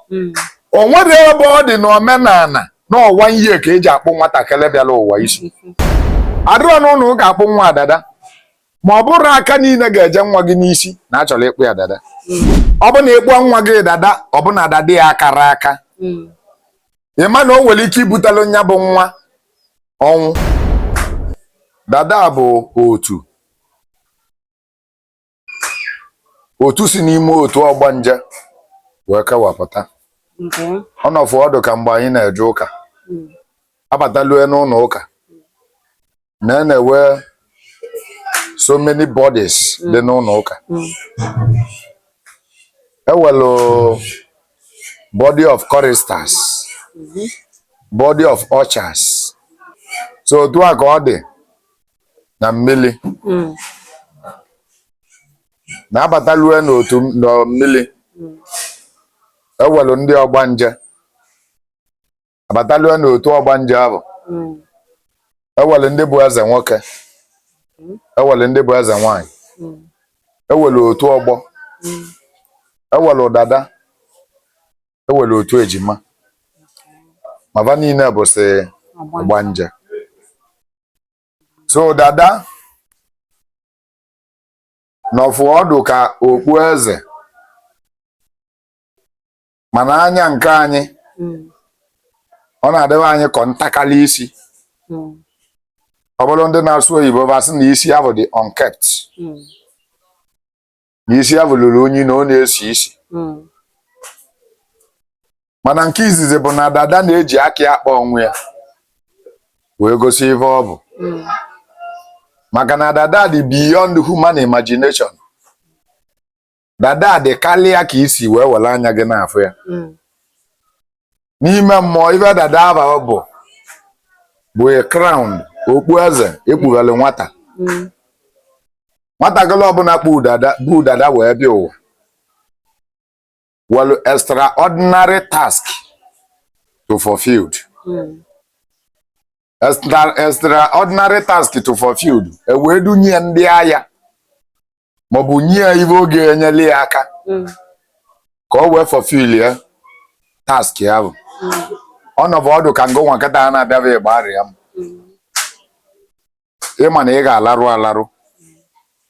hmm. o nwere ebe ọ dị n'omenala na ọwa ihe ka eji akpụ nwatakịrị bịara ụwa isi adịrọ anọ ụlọ ụka akpụ nwa dada ma ọ bụrọ aka niile ga-eje nwa gị n'isi na achọrọ ịkpụ ya dada hmm. ọ bụ na ịkpụọ nwa gị dada ọ bụ na dada ya akarọ aka hmm. ị ma na o nwere ike ibutelu nya bụ nwa ọnwụ dada bụ otu otu si n'ime otu ọgbanje wee kewapụta ọ nọfụ ọdụ ka mgbe anyị na-eje ụka hmm. abatalue n'ụlọ ụka na e na-ewe so many bodies hmm. dị n'ụlọ ụka hmm. ewelu body of choristers body of ushers so otu a ka ọ dị na mmiri hmm. na abatalue n'otu mmiri hmm. ewelu ndị ọgbanje abatalue n'otu ọgbanje ahụ hmm. ewelu ndị bụ eze nwoke ewelu ndị bụ eze nwanyị ewelu otu ọgbọ ewelu dada ewelu otu ejima ma va niile bụsị ọgbanje so dada nọfụ ọdụ ka okpu eze mana n'anya nke anyị hmm. ọ na-adịrị anyị ka ọ ntakala isi hmm. ọ bụrụ ndị na-asụ oyibo va asị na isi ahụ dị unkept hmm. na isi ahụ lụrụ unyi na ọ na-esi isi mm. mana nke izizi bụ na dada na-eji aka ya akpa onwe ya wee gosi ife ọ bụ mm. maka na dada dị beyond human imagination dada dị karịa ka i si wee were anya gị na-afụ ya mm. n'ime mmụọ ife dada ahụ bụ bụ a crown okpu eze ekpubelu nwata Mm. nwatakịrị ọbụla kpu dada bu dada wee bịa ụwa welu extraordinary task to fulfilled Mm. extraordinary task to fulfilled e wee dunye ya ndị agha maọbụ nye ya ife ga-enyelu ya aka mm. ka o wee fulfill ya task ahụ mm. ọ nọbụ ọdụ ka ngo nwa nkịta a na-abịaba ịgbarịa m mm. ị ma na ị ga-alarụ alarụ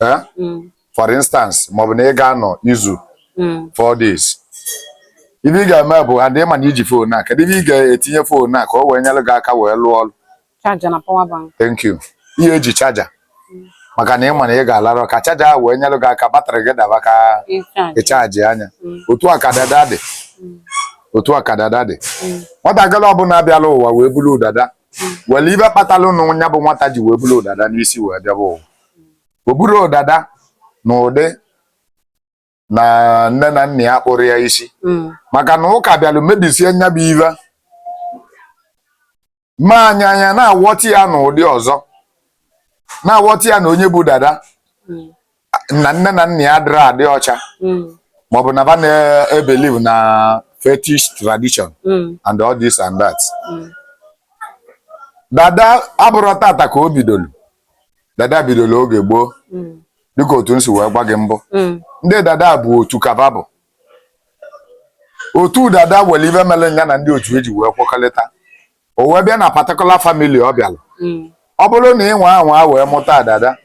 Eh? Mm. for instance maọbụ na ị ga-anọ izu mm. four days ibe ị ga-eme bụ adị ịma na iji fon a kedu ibe ị ga-etinye fon a ka o wee nyere gị aka wee lụọ ọrụ chaja na power bank thank you ihe eji chaja mm. maka na ịma na ị ga-alarọ ka chaja ahụ wee nyere gị aka batrị gị daba ka ị chajịa nya otu a ka dada dị otu a ka dada dị nwatakịrị ọbụla bịalụ ụwa wee bulu dada nwere ibe kpatalụ nya bụ nwata ji wee bulu dada n'isi wee bịaba ụwa o buro dada n'ụdị na nne na nna ya kpụrụ ya isi mm. maka na ụka bịalụ mebisie nya bụ ive mee anyị anyị na-awọta ya na ụdị ọzọ na-awọta ya na onye bụ dada mm. na nne na nna ya adịrọ adị ọcha mm. maọbụ na ba na-ebelieve na fetish tradition and all this and that dada abụrọ tata ka o bidolu dada bidolu oge gboo mm. dịka otu m si wee gwa gị mbụ mm. ndị dada bụ otu ka va bụ otu dada nwere ibe mere nya na ndị otu ya ji wee kwekọrịta o wee bịa na particular family ọ bịalụ mm. ọ bụrụ na ị nwa anwa wee mụta dada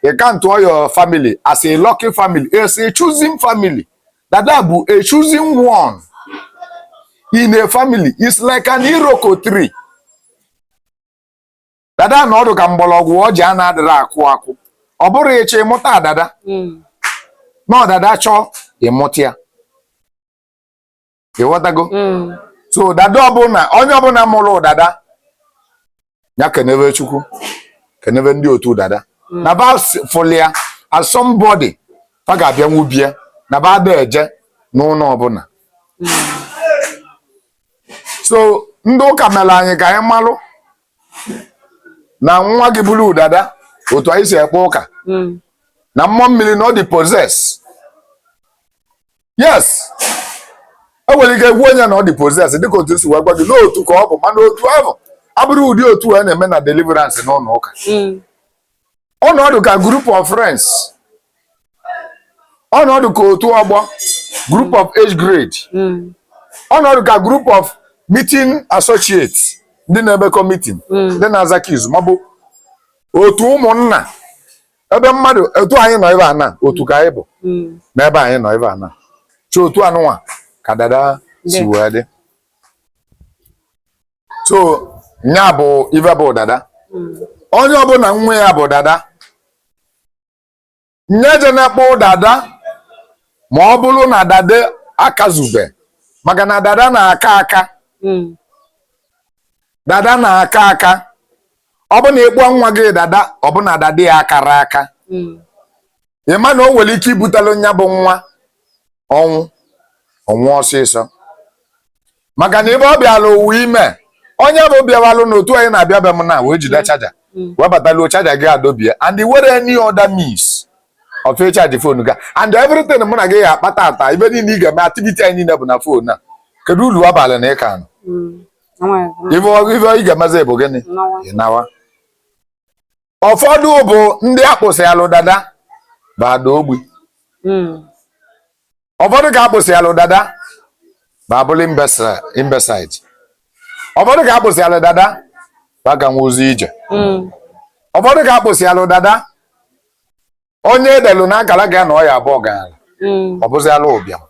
ị countụọ your family as a lucky family as a chosen family dada bụ a chosen one in a family is like an iroko tree dada na-adụ ka mgbọrọgwụ ọjị a na-adịrọ akụ akụ ọ bụrọ ị chọọ ị mụta dada mm. na ọ dada chọọ ị mụta ya ịghọtago mm. so dada ọbụla onye ọbụla mụrụ dada ya kenebe chukwu kenebe ndị otu dada mm. na ba fụlụ ya as somebody fa ga-abịa n'ụlọ be ya na ba ada eje n'ụlọ ọbụla so ndị ụka mere anyị ka anyị malụ na nwa gị bulu dada otu anyị si ekpe ụka hmm. na mmụọ mmiri na ọ dị possessed yes e nwere ike gwa onye na ọ dị possessed dịka otu m si wee gwa gị na otu ka ọ bụ mana otu ahụ abụrọ ụdị otu a na-eme na deliverance n'ụlọ ụka hmm. ọ na-adụ ka group of friends ọ na-adụ ka otu ọgbọ group of age grade Mm. ọ na-adụ ka group of meeting associate ndị na-emekọ meeting ndị na-agakọ izu maọbụ otu ụmụnna be mmadụ otu anyị nọ ebe a na otu ka anyị bụ Mm. n'ebe anyị nọ ebe a na chi otu anụnwa ka dada si wee dị so nya bụ ife bụ dada onye ọbụla nwa ya bụ dada nya ejena ịkpụ dada ma ọ bụrụ na dada akazube maka na dada na-aka aka dada na-aka aka ọ bụ na ị kpụọ nwa gị dada ọ bụ na dada ya akarọ aka ị ma na o nwere ike ibutelu nya bụ nwa ọnwụ ọnwụ ọsịsọ maka na ebe ọ bịala ụwa ime onye bụ bịawalụ na otu anyị na-abịa be m na wee jide mm. chaja mm. wee bataluo chaja gị adọbie and e nwerọ any other means of chaji fon gị and everything mụ na gị ya-akpa taa taa ive niile ị ga-eme activity anyị niile bụ na fon a kedu ulu ọ balụ na ị ka nọ mm. ife ị ga-emezi bụ gịnị ị nawa ụfọdụ bụ ndị akpụsịalụ dada va ada ogbi hmm. ụfọdụ ka akpụsịalụ dada va abụlụ imbecile ụfọdụ ka akpụsịalụ dada va aganwuzi ije hmm. ụfọdụ ka akpụsịalụ dada onye e delu n'akaraka ya na ọ ya-abụ ọgalanya mm. ọ bụzịalụ ụbịam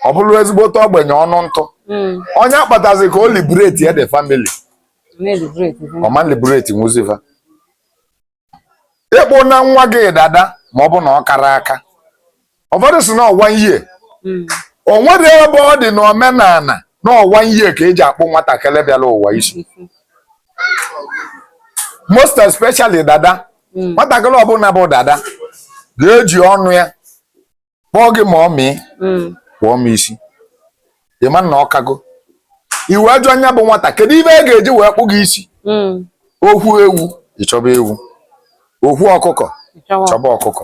ọ bụrụ ezigbote ogbenye ọnụ ntụ mm. onye akpatazi ka o liberate ya the family ọ ma liberate nwuzi va ị kpụna nwa gị dada ma ọ bụ na ọ karọ aka ụfọdụ sị na ọnwa ihe hmm. o nwerọ ebe ọ dị n'omenala na ọnwa ihe ka e ji akpụ nwatakịrị bịara ụwa isi most especially dada hmm. nwatakịrị ọbụla bụ dada ga-eji ọnụ ya kpọọ gị mummy hmm. kpụọ m isi ị ma na ọ kago ị wee jụa nya bụ nwata kedu ive a ga-eji wee kpụọ gị isi o kwuo ewu ị chọba ewu o kwuo ọkụkọ chọba ọkụkọ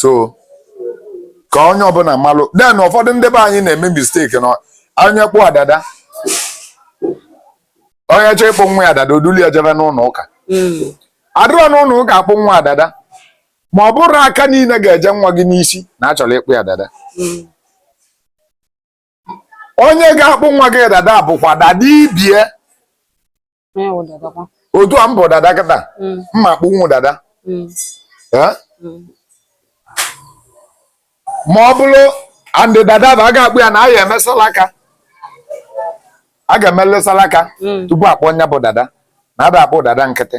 so ka onye ọbụla malụ then ụfọdụ ndị be anyị na-eme mistake na onye kpụọ dada onye chọọ ịkpụ nwa ya dada o dulu ya jebe n'ụlọ ụka hmm. a dịrọ n'ụlọ ụka akpụ nwa dada ma ọ bụrọ aka niile ga-eje nwa gị n'isi na a chọrọ ịkpụ ya dada hmm. onye ga-akpụ nwa gị dada bụkwa dada ibe ya otu a m bụ dada kịta m ma mm. akpụnwu dada mm. Mm. ma ọ bụrụ and dada bụ a ga-akpụ ya na a ya-eme salaka a ga-emelị salaka tupu a kpụọ nya bụ dada na a da-akpụ dada nkịtị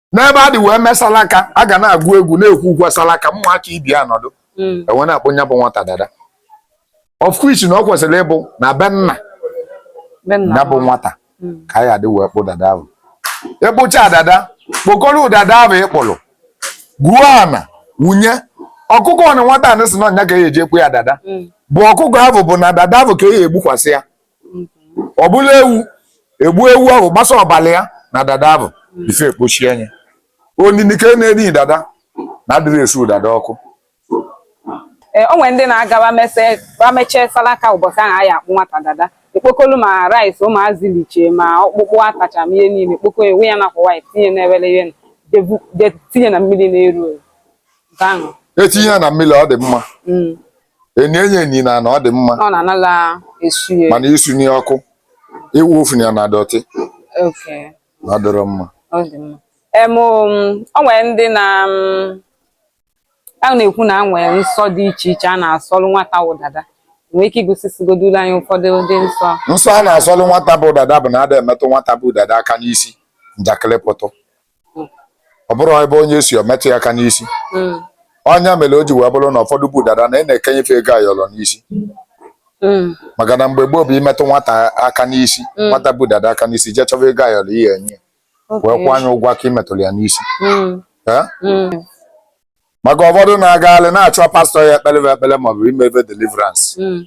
n'ebe a dị wee mee salaka a ga na-agụ egwu na-ekwe ukwe salaka ụmụaka ibe ya anọdụ hmm. e wee na-akpụ nya bụ nwata dada of which na ọ kwesịrị ịbụ na be nna ya bụ nwata hmm. ka a ya-adị wee kpụọ dada ahụ ị kpụchaa dada kpokọrọ dada ahụ ị kpụrụ gwuo ana wunye ọkụkọ na nwata anị sị na ọ nya ka a ya-eji akpụ ya dada hmm. bụ ọkụkọ ahụ bụ na dada ahụ ka a ya-egbukwasị ya ọ bụla ewu egbue ewu ahụ gbasa ọbala ya na dada ahụ ife ekpochie anya onini ka na-eni dada na adịrọ esu dada ọkụ eh, o nwere ndị na-agaba mechie salaka ụbọchị ahụ a na-akpụ nwata dada ekpokolu ma rice ụmụazị liche ma ọkpụkpụ atacha ma ihe niile kpoko ewu ya n'akwa white tinye na-ewere ihe tinye na mmiri na-eru eru etinye ya na mmiri ọ dị mma mm. eni eni eni n'ana ọ dị mma ọ na-anala esu ya mana isunye ọkụ iwufu na ya na dọtị oke na ọ dịrọ mma ọ dị mma em o nwere ndị na mm, a na-ekwu na e nwere nsọ dị iche iche a na-asọrụ nwata bụ dada i nwee ike igosigodulu anyị ụfọdụ ụdị nsọ nsọ a na-asọlụ nwata bụ dada bụ na ada emetụ nwata bụ dada aka n'isi njakịrị pụtụ ọ bụrọ ebe onye si o metụ ya aka n'isi mm. ọ nya mere o ji wee bụrụ na ụfọdụ bụ dada na a na-ekenye fa ego ayọrọ n'isi mm. maka na mgbe gboo bụ i metụ nwata aka n'isi mm. nwata bụ dada aka n'isi jee chọba ego ayọrọ ihe enye wee kwụọ nya ụgwọ aka i metụrụ ya n'isi maka ụfọdụ na-agagharị na-achọ pastọ ya-ekpere bụ ekpere maọbụ imebe deliverance mm.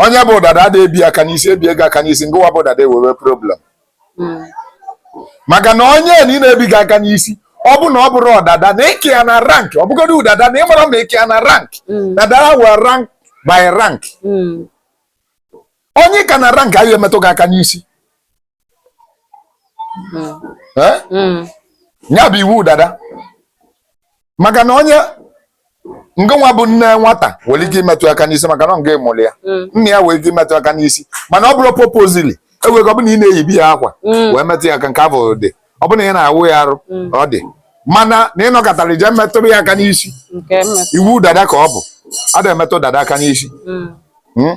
onye bụ dada adị ebi aka n'isi ebie gị aka n'isi ngịwa bụ dada enwee problem mm. maka na onye nị na-ebi gị aka n'isi ọ bụ na ọ bụrọ dada na ị ka ya na rank ọ bụgodu dada na ị marọ ma ị ka ya na rank mm. na dada nwere rank by rank onye ị ka na rank adị emetụ gị aka n'isi hmm. eh? hmm. ya bụ iwu dada maka na onye ngịwa bụ nne nwata nwere ike imetụ aka n'isi maka na ọ ngị mụrụ ya mm. nna ya nwere ike imetụ aka n'isi mana ọ bụrọ purposely enwere ọ bụ na ị na-eyibe ya akwa mm. wee metụ ya aka nke ahụ dị ọ bụ na ị na-awụ ya arụ mm. ọ dị mana na ị nọkatara i je metụrụ ya aka n'isi iwu dada ka ọ bụ a na-emetụ dada aka n'isi hmm?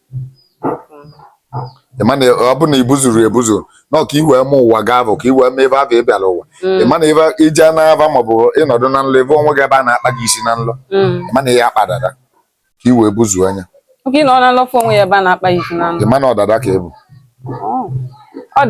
ịma na ọ bụ na i buzuru ebuzu na ọ ka i wee ma ụwa ga-abụ ka i wee ma ebe ahụ ị bịara ụwa ịma na ebe ije n'aba maọbụ ịnọdụ na nlọ ị fụ onwe gị ebe a na-akpa gị isi na nlọ ịma na ihe akpa dada ka i wee buzuo nya Oke na ọ na-alọ fụ onwe ya ebe a na-akpa ya isi na nlọ. ịma na ọ dada ka ị bụ Ọ.